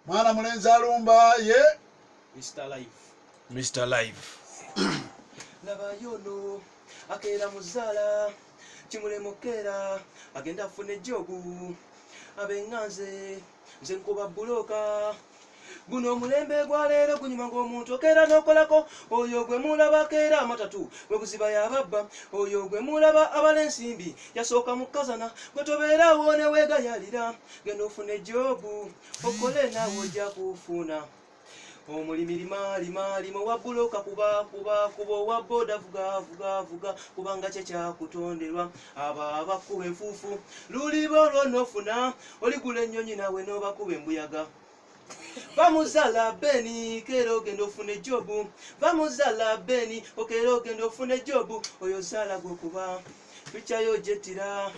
mwana mulenzi alumba ye mr life mr life nabayono akeera muzaala kimulema okukeera agenda afuna ejobu abeŋŋanze nze nkuba bbulooka guno omulembe gwaleero gunyuma ng'omuntu okeera n'okolako oyo gwe mulaba keera amatatu gwe buziba yababba oyo gwe mulaba abala ensimbi yasooka mu kazana gwe tobeera awo ne weegayalira genda ofune jobu okole naawe ojja kufuna omulimi limaalimalima owa buloka kuba kuba kuba owa boda vuga vuga vuga kubanga kye kyakutonderwa abo abakuba enfuufu luliba olwonofuna oligula ennyonyi nawe n'obakuba embuyaga vamuzala beni kera ogenda ofuna ejobu vamuzala beni okera ogenda ofuna ejobu oyo zala gwokuba tukyayo jetira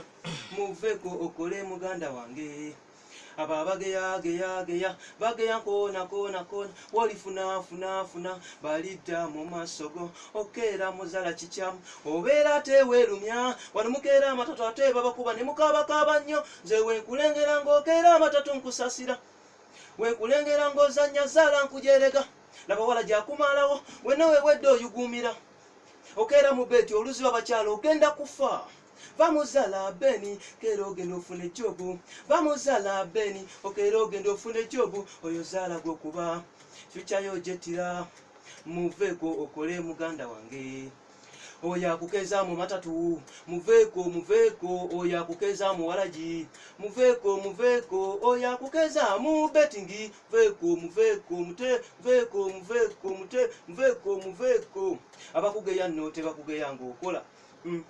muveko okole muganda wange abo abageyageyageya bageya koona koona koona wolifunafunaafuna balidda mu maaso go okeera muzala kikyamu obeera teweerumya wano mukeera amatatu ate babakuba ne mukaabakaaba nnyo nze wenkulengera ng'okeera amatatu nkusasira wenkulengera ng'ozannya zaala nkujerega laba wala gyakumalawo wenna wewedde oyuguumira okeera mu beeti oluziba bakyalo ogenda kufa bamuzala beni kera ogenda ofuna ejobu bamuzala beni okera ogenda ofuna ejobu oyo zaala gwokuba fyukyayo ojetira muveeko okole muganda wange oyo akukeza mu matatu muveeko muveeko oyo akukeza mu walagi muveeko muveeko oyo akukeza mu betingi veeko muveeko mute veeko muveeko mute muveeko muveeko abakugeya nno tebakugeya ng'okola mm.